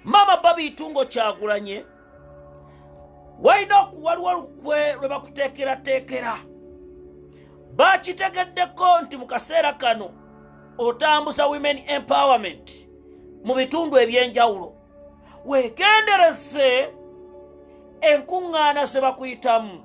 maama babiitungo kyagulanye walina okuwaliwo lukwe lwe bakuteekerateekera bakitegeddeko nti mu kaseera kano otambuza women empowerment mu bitundu eby'enjawulo weegendereze enkuŋŋaana ze bakuyitamu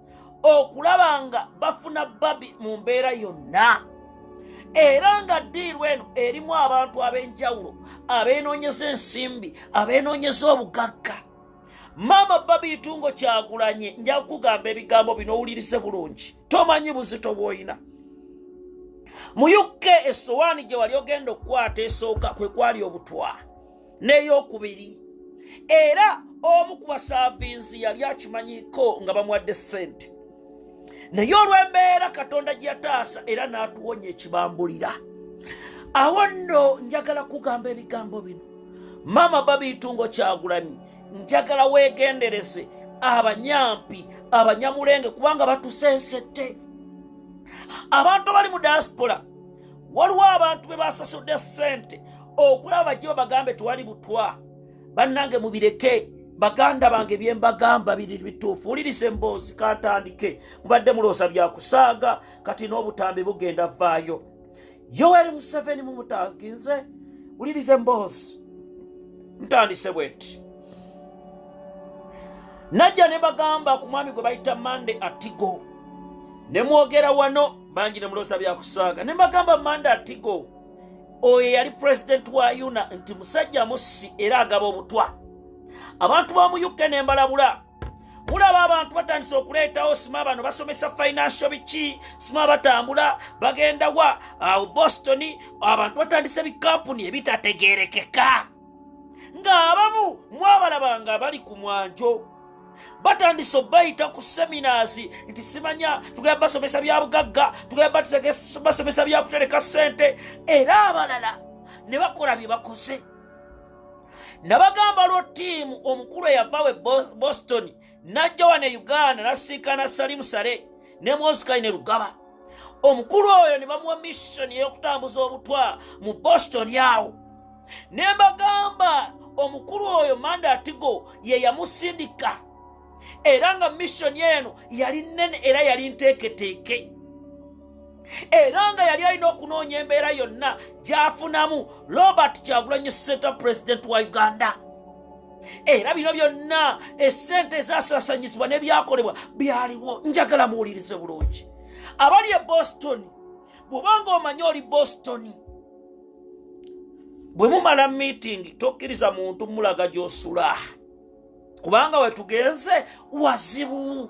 okulaba nga bafuna babi mu mbeera yonna era nga ddiirwa eno erimu abantu ab'enjawulo abeenoonyeza ensimbi abeenoonyeza obugagga maama babiitungo kyagulanye nja kukugamba ebigambo bino owulirize bulungi tomanyi buzito bw'olina mu uk esowaani gye wali ogenda okukwata esooka kwe kwali obutwa n'eyokubiri era omu ku basaavinzi yali akimanyiko nga bamuwadde ssente naye olw'embeera katonda gye yataasa era n'atuwonya ekibambulira awo nno njagala kugamba ebigambo bino maama babiitungo kyagulanyi njagala weegendereze abanyampi abanyamulenge kubanga batusensedde abantu abali mu diaspora waliwo abantu be basasudde sente okulaba bajje babagambe tewali butwa bannange mubireke baganda bange byembagamba biri bituufu wuliriza emboozi kantandike mubadde muloosa byakusaaga kati n'obutambi bugenda vaayo yoweri museveni mumutaginze wuliriza emboozi ntandise bwe nti najja ne bagamba ku mwami gwe bayita mande atigo ne mwogera wano bangi ne muloosa byakusaaga ne mbagamba manda atigo oyo yali pulezidenti wa yuna nti musajja mussi era agaba obutwa abantu ba mu uk ne mbalabula mulaba abantu batandise okuleetawo sima bano basomesa financial biki sima batambula bagenda wa awo boston abantu batandise bikampuni ebitategerekeka ng'abamu mwabalabanga abali ku mwanjo batandise obayita ku seminasi nti simanya tugenda basomesa bya bugagga tugenda basomesa bya kutereka ssente era abalala ne bakola bye bakoze nabagamba lwo ttiimu omukulu eyavawe boston n'ajja wano e uganda n'asisinkana salimu sale ne moskai ne lugaba omukulu oyo ne bamuwa missoni ey'okutambuza obutwa mu boston awo ne mbagamba omukulu oyo mandatigo ye yamusindika era nga missoni eno yali nnene era yali nteeketeeke era nga yali alina okunoonya embeera yonna gyafunamu robert kyagulanyi senta pulezidenti wa uganda era bino byonna esente ezasasanyizibwa nebyakolebwa byaliwo njagala muwulirize bulungi abali e boston bwobanga omanye oli boston bwe mumala meeting tokkiriza muntu mulaga gyosula kubanga wetugenze wazibu